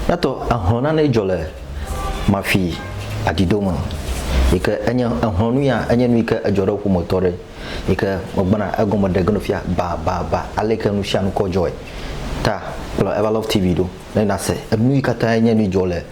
Nyato ehlɔ̃ nane dzɔ le mafi adido me yi ke enye ehlɔ̃ nu ya enye nu yi ke edzɔ ɖe ƒometɔ ɖe yi ke megbana egɔme ɖe geno fia ba ba ba ale yi ke nu sia nu kɔ dzɔe ta kplɔ Ever Love TV ɖo ne nase enu yi katã enye nu dzɔ le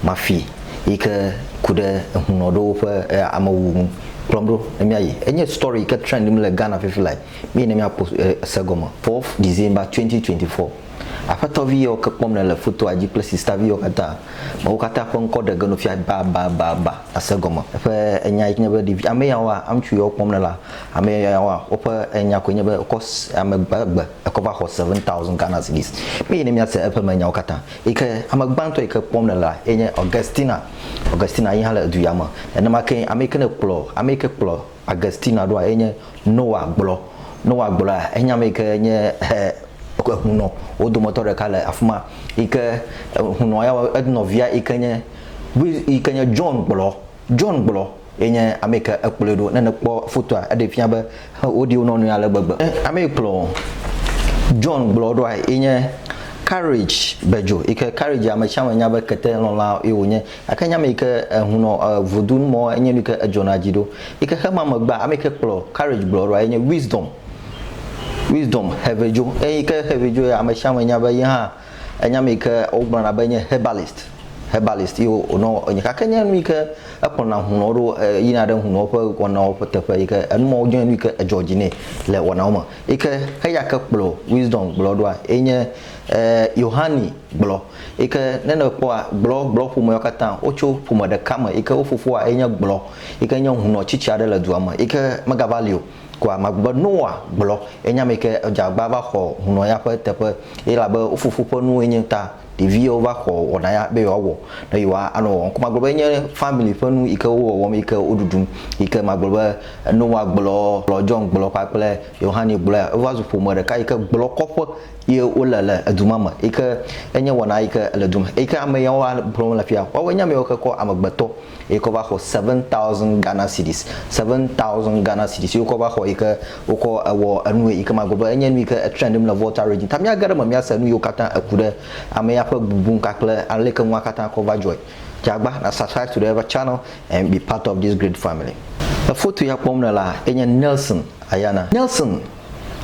mafi yi ke ku ɖe ehunɔ ɖewo ƒe ame wuwu ŋu kplɔm ɖo ne miayi enye story yi ke trend le Ghana fifi lae miyi ne miakpɔ se gɔme 4 December 2024 Aƒetɔ vi yewo ke kpɔm nèle fotoa dzi kple sista vi yewo katã. Ame wo katã ƒe ŋkɔ ɖe ge nu fia babababa ase gɔme. Eƒe enya yi nye be ɖevi ame yawoa, ŋutsu yawo kpɔm nèlea, ame yawoa, woƒe enya koe nye be wokɔ ame gbegbe ekɔ va xɔ seven thousand Ghana cedis. Míeyi ne míase eƒe me nyawo katã. Yi ke ame gbãtɔ yi ke kpɔm nèlea ye nye Augustina. Augustina yi hã le du ya me. Nenema kee ame yi ke ne kplɔ, ame yi ke kplɔ. Agustina ɖoa ye nye Noa gblɔ. Noa gblɔa enya me yi ke nye ehunɔ wo dometɔ ɖeka le afi ma yi ke ehunɔ ya enɔvia yi ke nye yi ke nye John gblɔ. John gblɔ ye nye ame yi ke ekplɔe ɖo. Ne nèkpɔ fotoa eɖee fia be woɖi wo nɔnɔewo ale gbegbe. Ame yi kplɔ John gblɔ ɖoa ye nye Courage Bedjo yi ke Courage ame sia ame nya be ketelɔla ye wònye. Gake nye ame yi ke ehun nɔ vodu nu mɔ enye nu yi ke edzɔna dzi ɖo yi ke xe ma megbea, ame yi ke kplɔ Courage gblɔ eɖoa ye nye Wisdom. Wisdom Xevedzo. Eyi yi ke Xevedzo ya, ame sia ame nya be ye hã enye ame yi ke wogblɔna be enye herbalist, herbalist ye wònɔ enye. Gake enye nu yi ke ekplɔna hunɔwo ɖo yina ɖe hunɔwo ƒe wɔnawo ƒe teƒe yi ke enu mawo nye nu yi ke edzɔ dzi nɛ le wɔnawo me. Yi ke eya ke kplɔ Wisdom gblɔ ɖoa ye nye Yohane gblɔ. yi ke ne nèkpɔa, gblɔ, gblɔ ƒomeawo katã, wotso ƒome ɖeka me yi ke wo fofoa ye nye gblɔ yi ke nye hunɔ tsitsi aɖe le dua me yi ke megava li o koa, magblɔ be Noa, gblɔ, ye nye ame yi ke dze agbagba va xɔ hunɔ ya ƒe teƒe elabe wo fofo ƒe nuwoe nye ta ɖeviwo va xɔ wɔna ya be yewoawɔ ne yewoa anɔ wɔwɔm ko magblɔ be enye family ƒe nu yi ke wo wɔwɔm yi ke wo ɖuɖum yi ke magblɔ be Noa, gblɔ, gblɔ, John, gblɔ kpakple Yohane, gblɔa wova zu ƒome ɖeka yi ke gblɔ kɔƒe ye wole le edu ma me yi ke enye wɔna yi ke le du me yi ke ame yawo ƒlɔm le afia. Woawoe nye ame yawo ke kɔ amegbetɔ yi ke va xɔ seven thousand Ghana cedis, seven thousand Ghana cedis yi wokɔ va xɔ yi ke wokɔ wɔ enu yi ke magblɔ be enye nu yi ke trend le Volta region. Ta míage ɖe eme míase nu yiwo katã eku ɖe ame ya ƒe bubu ŋu kpakple ale yi ke nua katã kɔ va dzɔe. Dze agba na subscribe to the channel and be part of this great family. Foto ya kpɔm nèlea enye Nelson Ayana. Nelson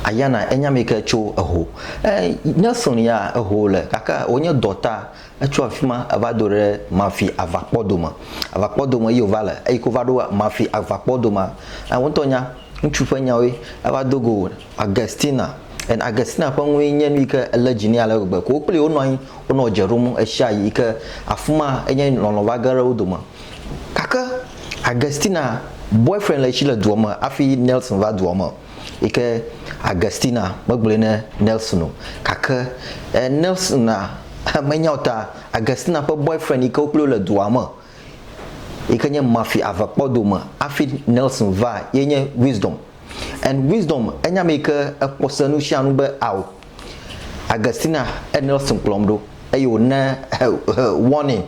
Ayana, enya ame yi ke tso eho. E, Nelson ya eho le gake wònye dɔta. Etso afi ma eva do ɖe Mafi avakpɔ dome. Avakpɔ dome ye wòva le eyi ke wova ɖo Mafi avakpɔ domea, e, wò ŋutɔ nya ŋutsu ƒe nyawoe. Eva do go Augustina. And Augustina ƒe nue nye nu yi ke lé dzi nɛ ale gbegbe. Ko wo kpli wonɔ anyi, wonɔ dze ɖom ɣeshiaɣi yi ke afi ma enye lɔlɔ̃ va ge ɖe wo dome. Gake Augustina boyfriend le esi le dua me hafi Nelson va dua me. yi ke Augustina megblɔe ne Nelson o gake e Nelson a menya o ta Augustina ƒe boyfriend yi ke wo kple le dua me yi ke nye Mafi avekpɔdome hafi Nelson va ye nye Wisdom and Wisdom enye ame yi ke ekpɔ se nu sia nu be ao Augustina e Nelson kplɔm ɖo eye wòna warning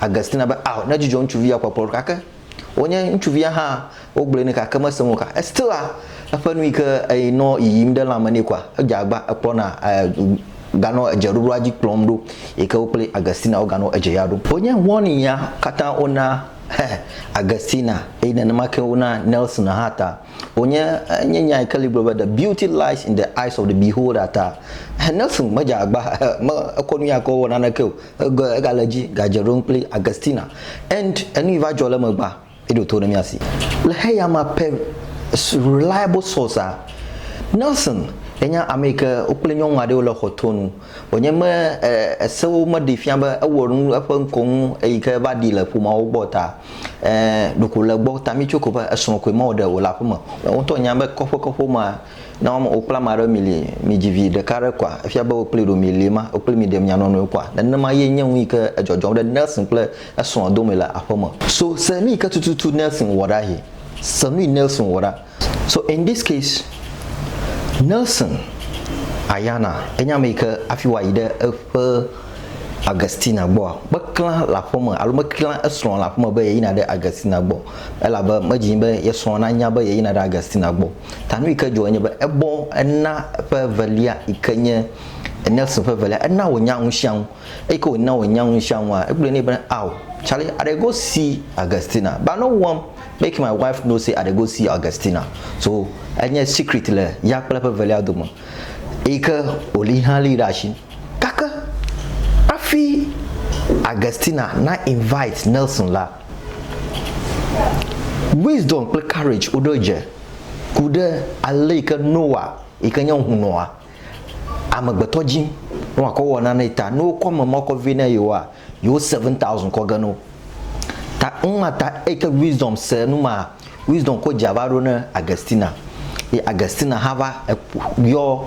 Augustina be ao nedzudzɔ ŋutsuvi ya kpɔkplɔ ɖo gake Wonye ŋutsuvia hã wogblɔe nɛ gake mese ŋu o ka still a eƒe nu yike eyi nɔ yiyim ɖe lãme nɛ koa edze agba ekplɔna ganɔ edze ɖoɖoa dzi kplɔm ɖo yike wo kple Augustina woganɔ edze ya ɖom. Wonye ŋɔnia katã wona Augustina eye nenema ke wona Nelson hã ta. Wonye enye nya yike li gblɔ be the beauty lies in the eyes of the beholder ta Nelson medze agba me ekɔ nuya ke wɔwɔ naneke o. Egɔe egale edzi gadze ɖom kple Augustina and enu yi va dzɔ le emegbea, eɖo to ɖe mía si. Le xeyamea per reliable source a, Nelson yenya ame yi ke wokple nyɔnu aɖewo le xɔ to nu wònye me e esewo meɖee fia be ewɔ nu eƒe ŋkɔ ŋu eyi ke va ɖi le ƒomeawo gbɔ o ta e ɖeko le egbɔ ta mí tso ko be esrɔ̃ koe mewɔ ɖe wòle aƒeme. Wò ŋutɔ nya be kɔƒe kɔƒe womea, Ne wɔm wokple ame aɖe mi li, mi dzi vi ɖeka aɖe koa, efia be wokpli ɖo mi li ma, wokpli mi ɖe mia nɔ nɔewo koa? Nenema ye nye nu yi ke edzɔdzɔm ɖe Nelson kple esrɔ̃a dome le aƒe me. So se nu yi ke tututu Nelson wɔ ɖa hɛ. Se nu yi Nelson wɔ ɖa. So in this case, Nelson Ayana enye ame yi ke hafi wòayi ɖe eƒe Augustina gbɔa, meklã le aƒe me alo meklã esrɔ̃ le aƒe me be yeyina ɖe Augustina gbɔ o. Elabe medzi be ye srɔ̃ nanya be yeyina ɖe Augustina gbɔ o. Ta nu yi ke dzɔ enye be ebɔ ena eƒe evelia yi ke nye Nelson ƒe evelia, ena wònya nu sia nu. Eyi ke wòna wònya nu sia nua, egblɔe nɛ be, Ao, Charlie, I dey go see Augustina, but no one make my wife know say I dey go see Augustina. So enye secret le ya kple eƒe evelia dome. Eyi ke wòli hã lée ɖe asi. Gake hafi Augustina na invite Nelson la, Wisdom kple Courage woɖo dze ku ɖe ale yi ke Noa yi ke nye hunɔa, amegbetɔ dzi ne wòakɔ wɔ nanee ta. Ne wokɔ ame ma kɔ vɛ na yewoa, yewo seven thousand kɔ ge na wo. Ta numa ta eyi ke Wisdom se nu maa, Wisdom kɔ dzea va ɖo na Augustina. Ye Augustina hã va yɔ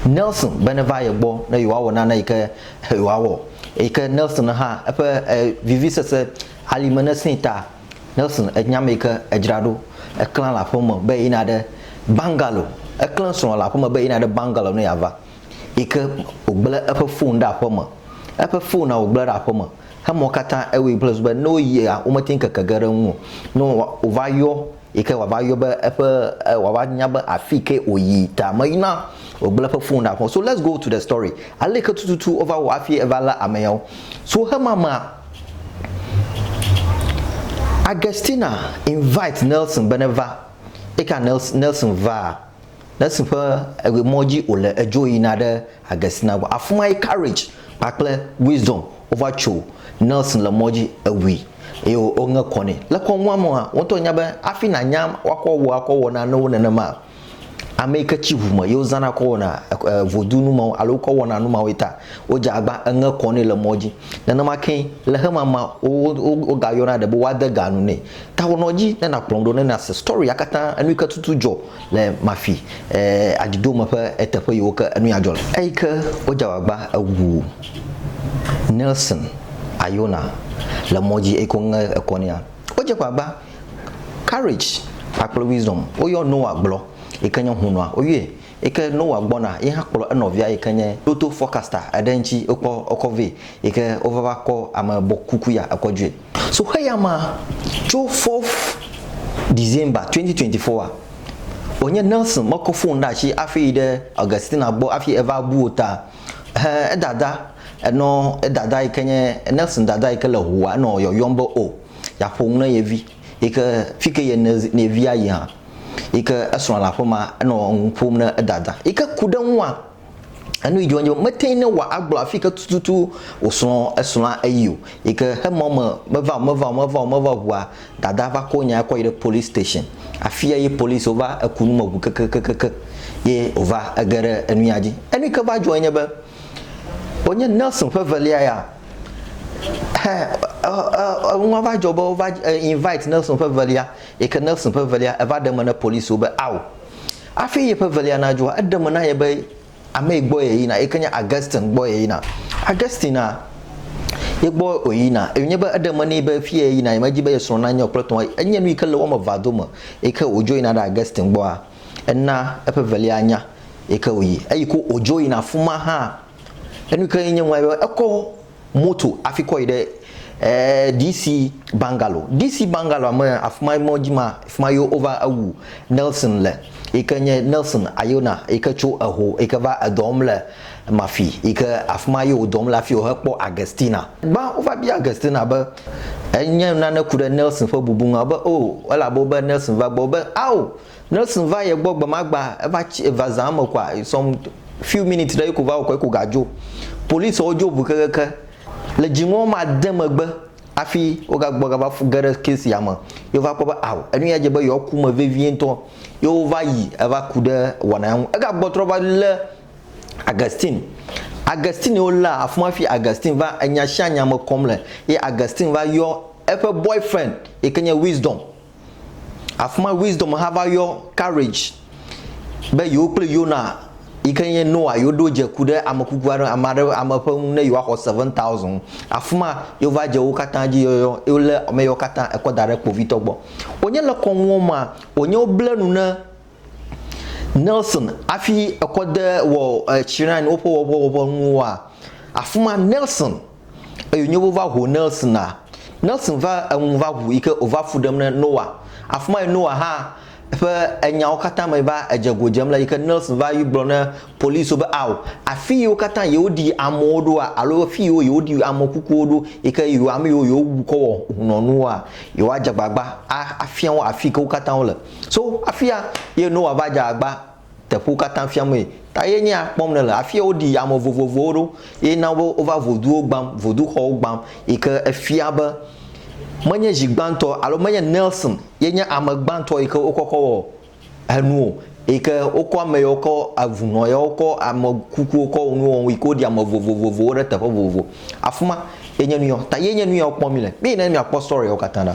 Nelson be neva ye gbɔ ne yewoawɔ nane yi ke. Wòawɔ. Eyi ke Nelson hã eƒe vivisese alime nesẽe ta, Nelson, ènya ame yi ke edzra ɖo, eklã le aƒe me be yina ɖe bungalow. Eklẽ srɔ̃a le aƒe me be yina ɖe bungalow ne yeava. Yi ke wògblẽ eƒe fon ɖe aƒe me. Eƒe fonea wògblẽ ɖe aƒe me. Emɔ katã ewɔe kple susu be ne woyia, womete ŋu keke ge ɖe eŋu o. Ne wova yɔ Yi ke wòava yɔ be eƒe e wòava nya be afi ke wòyi ta meyi na wògblẽ eƒe fon ɖa. So let's go to the story. Ale yi ke tututu wova wɔ hafi eva lé ame yawo. So hemamea, Augustina invite Nelson be neva. Eyi ke Nels Nelson vaa, Le si ƒe emɔ dzi wòle edzo yina ɖe Agɛstina gbɔ. Afi mae Courage kpakple Wisdom wova tso. Nelson le mɔ dzi, ewui eye woŋe kɔ nɛ. Le kɔ ŋua mea, wò ŋutɔ nya be hafi nànya woakɔ wò akɔ wɔ nanewo nenema ame yi ke tsi ŋu me ye wozãna kɔ wɔna vodu nu mawo alo wokɔ wɔna nu mawoe ta. Wodze agba eŋe kɔ nɛ le mɔ dzi. Nenema kee le xemamea wogayɔna ɖe be woade ga nu nɛ. Tawɔnɔ dzi ne nàkplɔm ɖo ne nàse story-a katã enu yi ke tutu dzɔ. le Mafi aɖiɖome ƒe eteƒe yiwo ke enu ya dzɔ le. Eyi ke wodze agbagba ewu Nelson Ayona le mɔ dzi eyi ke woŋe ekɔ nɛa, wodze agbagba Courage kpakple Wisdom woyɔ Noah gblɔ yi ke nye hunɔa woyɔe yi ke Noah gbɔna ye hã kplɔ enɔvia yi ke nye Lotto Forecaster eɖe ŋuti wokɔ wokɔ vɛ yi ke wova va kɔ ame bɔ kuku ya ekɔ dzoe. So xeya ma tso fourth December 2024 a, wònye Nelson mekɔ fon ɖe asi hafi yi ɖe Augustina gbɔ hafi eva bu wo ta. Ẽ, edada, enɔ edada yi ke nye, Nelson dada yi ke le ŋua, enɔ yɔyɔm be, O, yeaƒo nu na ye vi, yi ke fi ke ye ne, ne ye vi ayi hã, yi ke esrɔ̃a le aƒe ma, enɔ nu ƒom na edada yi ke ku ɖe eŋua. Enu yi dzi wɔm mete ne wɔ agblɔ afi ke tututu wòsrɔ̃ esrɔ̃a eyi o yi ke hemɔ me meva o meva o meva o meva o ŋua dada va ko nyae kɔ yi ɖe police station afia ye police wova eku nu me ŋu kekekekeke ye wòva ege ɖe enuya dzi. Enu yi ke va dzɔe nye be wònye Nelson ƒe evelia ya he enua va dzɔ be wova invite Nelson ƒe evelia yi ke Nelson ƒe evelia eva ɖe eme ne police wo be ao Hafi yeƒe evelia nadzɔa, eɖe eme na ye be amee gbɔ yeyina, yi ke nye Augustine gbɔ yeyina. Augustinea, ye gbɔ wòyina, eye wònye be eɖe eme nɛ be fie yeyina, yemedi be ye srɔ̃ nanye o kple etɔ̃. Enye nu yi ke le wo ame evea dome yi ke wòdzo yina ɖe Augustine gbɔa, ena eƒe evelia nya yi ke wòyi. Eyi ko wòdzo yina afi ma hã, enu yi ke nye nua be ekɔ moto afi kɔ yi ɖe ɛɛ DC Bangalo. DC Bangaloa me afima mɔ dzi ma fima yo wova ewu Nelson le yi ke nye Nelson Ayona yi ke tso eho yi ke va edɔ wɔm le Mafi yi ke afima yo wodɔ wɔm le afi wohe kpɔ Agestina. Gbã wova bia Agestina be enye nane ku ɖe Nelson ƒe bubu ŋu a wo be oo elabe wo be Nelson va gbɔ wo be ao Nelson va ye gbɔ gbe ma gbe eva tsi eva zã me koa some few minutes ɖe ye ko va wɔ kɔ ye ko ga dzo. Polisɔwo dzo ŋu kekeke le dzi ŋɔ ma de megbe afi wo ga gbɔ ga va fu ge ɖe case ya me ye wo va kpɔ be ao enu ya dze be yewoa ku me vevie ŋutɔ ye wo va yi eva ku ɖe wɔna ya ŋu. Ega gbɔ trɔ va le Augustine. Augustine wo lea afima fi Augustine va enya sia nya me kɔm le ye Augustine va yɔ eƒe boyfriend yi ke nye Wisdom. Afi ma Wisdom hã va yɔ Courage be yewo kple Yona yi ke nye Noa yewo ɖo dze ku ɖe ame kuku aɖe, ame aɖe, ame ƒe ŋu ne yewoaxɔ seven thousand. Afi ma yewo va dze wo katã dzi yɔyɔ ye wolé ame yewo katã ekɔ da ɖe kpovitɔ gbɔ. Wònye le kɔnuɔ mea, wònye woble nu ne Nelson hafi ekɔ de wɔ shrine woƒe wɔƒe wɔƒe nuwoa, afi ma Nelson. eye wonyo wova ŋu Nelsona. Nelson va eŋu va ŋu yi ke wòva fu ɖem ne Noa. Afi mae Noa hã ƒe enyawo katã me va edze go dzem le yi ke Nelson va yi gblɔ ne polisiwo be ao, afi yiwo katã yewoɖi amewo ɖoa alo afi yiwo yewoɖi ame kukuwo ɖo yi ke yewo ame yiwo yewowu kɔ wɔ ŋunɔnuwoa, yewoadze agbagba afia wo afi yi ke wo katã wole. So afia ye Noa va dze agbagba. teƒewo katã fiamee. Ta ye nye ya kpɔm nèle. Afia woɖi ame vovovowo ɖo eye na be wova voduwo gbam, voduxɔwo gbam yi ke efia be menye zi gbãtɔ alo menye Nelson ye nye ame gbãtɔ yi ke wokɔ kɔ wɔ enu o yi ke wokɔ ame yawo kɔ, eŋunɔ yawo kɔ, ame kukuwo kɔ nuwo wɔm yi ke woɖi ame vovovowo ɖe teƒe vovovo. Afima ye nye nuya ta ye nye nuyawo kpɔm mi le. Mi yi ne mia kpɔ story wo katã ɖa.